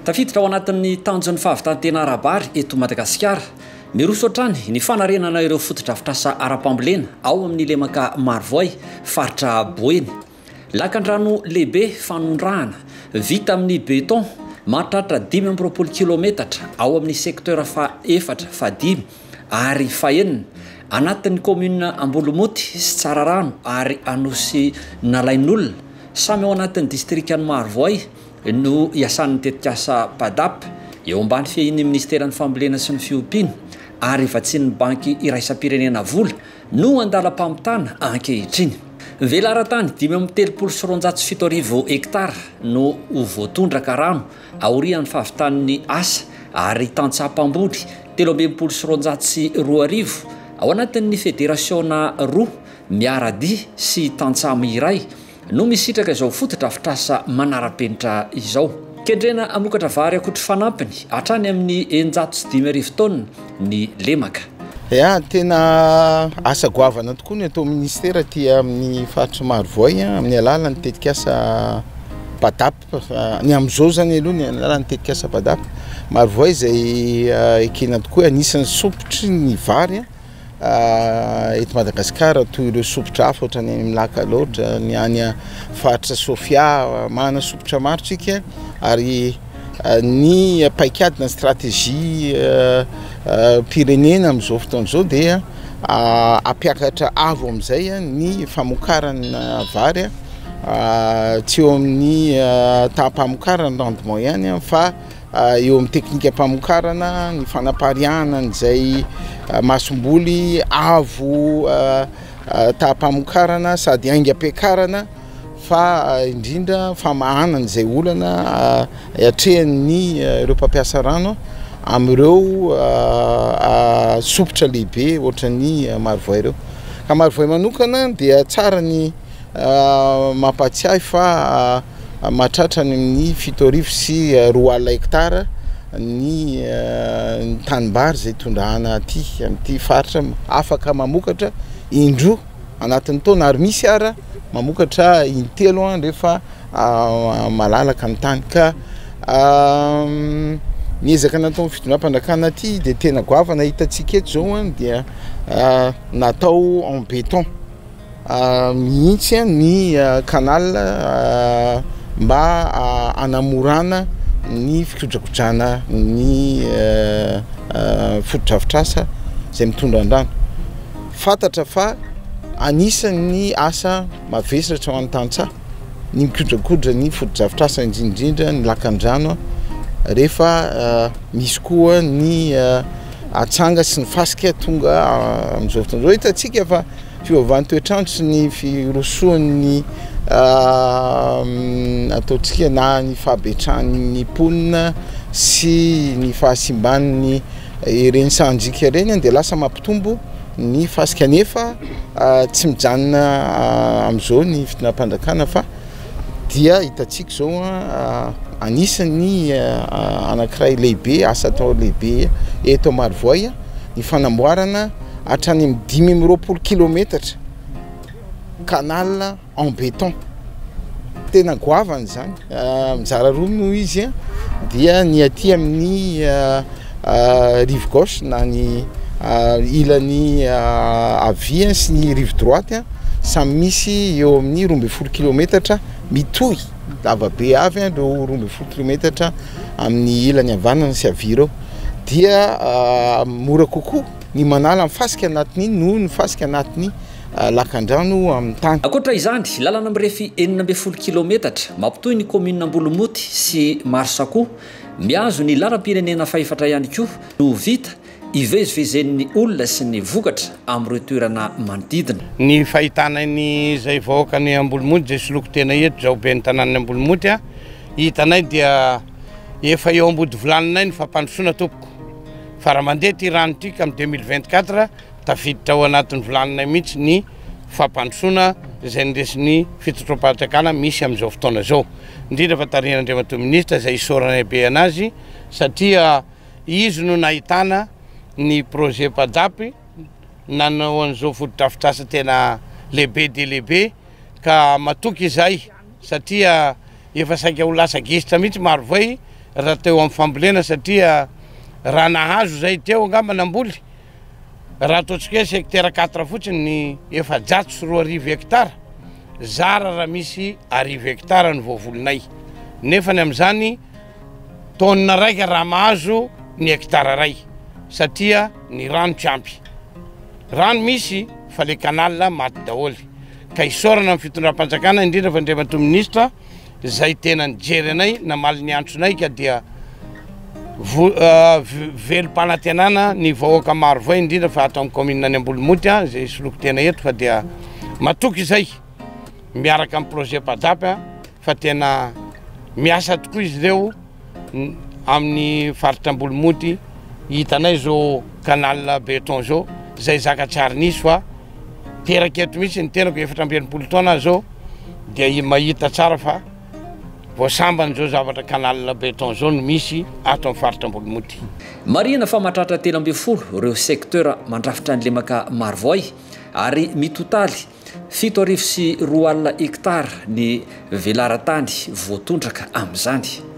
Tafiditra ao anatin'ny tanjon'ny fahavitan-tena ara-bary eto Madagasikara. Miroso hatrany ny fanarenana ireo fotodrafitrasa ara-pambolena ao amin'ny lemaka Marovoay, faritra Boeny. Lakandrano lehibe fanondrahana, vita amin'ny beton, mahatratra dimy amby roapolo kilometatra, ao amin'ny secteur faha efatra, faha dimy ary faha enina, anatin'ny kaominina Ambolomoty sy Tsararano ary Anosinalain'olona, samy ao anatin'ny distrikan'i Marovoay, no iasan'ny tetikasa PADAP, eo ambany fiahian'ny Ministeran'ny Fambolena sy ny Fiompiana ary vatsian'ny Banky Iraisam-pirenena Vola, no an-dalam-pamitana ankehitriny. Velaran-tany dimy amby telopolo sy roanjato sy fito arivo hektara no ho voatondraka rano aorian'ny fahavitan'ny asa ary tantsaha mpamboly telo amby enimpolo sy roanjato sy roa arivo ao anatin'ny federasiona roa miara-dia sy tantsamo iray no misitraka izao fotodrafitrasa manara-penitra izao. Kendrena hamokatra vary akotry fanampiny hatrany amin'ny eninjato sy dimy arivo taonina ny lemaka. Ya, tena asa goavana tokoa ny atao ministera aty amin'ny faritry Marovoay amin'ny alalan'ny tetikasa BADAP. Ny amin'izao izany aloha ny alalan'ny tetikasa BADAP. Marovoay izay ekena tokoa anisan'ny sompitry ny vary Eto Madagasikara toy ireo sompitra hafa ohatran'ny any amin'ny lac Alaotra, ny any faritra Sofia, manana sompitra maro tsika ary ny paikady na stratégie mpirenena amin'izao fotoana izao dia hampiakatra avo amin'izay ny famokarana vary tsy eo amin'ny taha-pamokarana rendement ihany fa eo amin'ny teknikam-pamokarana, ny fanapariahana an'izay masomboly avo taham-pamokarana sady aingam-piakarana fa indrindra famahanana izay olana atrehan'ny ireo mpampiasa rano amin'ireo sompitra lehibe ohatran'ny marovoay ireo. Ka marovoay manokana dia tsara ny Mampahatsiahy fa mahatratra any amin'ny fito arivo sy roa alina hektara ny tanimbary izay tondrahana aty amin'ity faritra, afaka mamokatra indroa anatin'ny taona ary misy ara mamokatra intelo rehefa malalaka ny tany ka ny ezaka nataon'ny fitondram-panjakana aty dia tena goavana, hitantsika eto izao dia natao en béton. mihitsy ny canal mba hanamorana ny fikojakojana ny fotodrafitrasa izay mitondra ny rano. Fantatra fa anisan'ny asa mavesatra ho an'ny tantsaha ny mikojakoja ny fotodrafitrasa indrindra indrindra ny lakandrano rehefa misy koa ny atsanga sy ny fasika tonga amin'izao fotoana izao. Hitantsika fa Fiovavan'ny toetr'andro sy ny firosoan'ny ataontsika na ny fahabetsahan'ny mponina sy ny fahasimban'ny ireny sahanjika ireny dia lasa mampitombo ny fasika nefa tsy mijanona amin'izao ny fitondrapanjakana fa dia hitantsika izao anisan'ny anankiray lehibe asa atao lehibe eto Marovoay ny fanamboarana hatrany amin'ny dimy amby roapolo kilometatra canal en béton tena goavana izany mizara roa moa izy dia ny aty amin'ny rive gauche na ny ilany havia sy ny rive droite samy misy eo amin'ny roa ambin'ny folo kilometatra mitohy lavabe avy an ireo roa ambin'ny folo kilometatra amin'ny ilany havanana sy havia ireo dia ah, mora kokoa ny manala ny fasika anatiny noho ny fasika anatiny ah, lakandrano amin'ny tany. Ankoatra izany, lalana mirefy enina ambin'ny folo kilometatra mampitohy ny kaominina Ambolomoty sy Marsakoa Mihazo ny lalam-pirenena fahefatra ihany koa no ho vita ivezivezen'ny olona sy ny vokatra amin'ireo toerana manodidina. Ny fahitana an'izay vahoaka any Ambolimoty izay soloiko tena eto izao ben'ny tanànan'ny Ambolimoty a, hitanay dia efa eo am-bodivilaninay ny fampandrosoana tompoko, fa raha mandeha ity rano ity ka amin'ny deux mille vingt quatre Tafiditra ao anatin'ny vilaninay mihitsy ny fampandrosoana izay ny resin'ny fitsotroam-pahatsakana misy amin'izao fotoana izao. Indrindra fa tarihin' Andriamatoa Minisitra izay isaoranay be anazy satria izy no nahitana ny projet PAJAP nanao an'izao fotodrafitrasa tena lehibe dia lehibe ka matoky izahay satria efa saika ho lasa gisitra mihitsy Marovoay raha teo amin'ny fambolena satria raha nahazo izay teo angamba namboly Raha ataontsika hoe secteur quatre fotsiny ny efajato sy roa arivo hectares, zara raha misy arivo hectares ny voavolinay. Nefany amin'izany, taonina raika raha mahazo ny hectare iray satria ny rano tsy ampy. Rano misy fa le canal maty daholo. Ka isaorana ny fitondram-panjakana, indrindra fa Andriamatoa Ministra, izay tena nijery anay namaly ny antsonay ka dia velom-panantenana ny vahoaka maro vay indrindra fa ato amin'ny kaominina any Ambolomonty an izay soloko tena eto fa dia matoky izay miaraka amin'ny projet PAJAP fa tena miasa tokoa izy ireo Amin'ny faritra Ambolomonty hitanay zao canal beton zao zay zaka tsy ary nisy fa teraka eto mihitsy ny tenako efatra amby enimpolo taona aho zao dia mahita tsara fa vao sambany zao zavatra canal beton zao no misy ato amin'ny faritra Ambolomonty. Marihina fa mahatratra telo ambin'ny folo ireo secteurs mandrafitra ny lemaka Marovoay ary mitotaly Fito arivo sy roa alina hektara ny velaran-tany voatondraka amin'izany.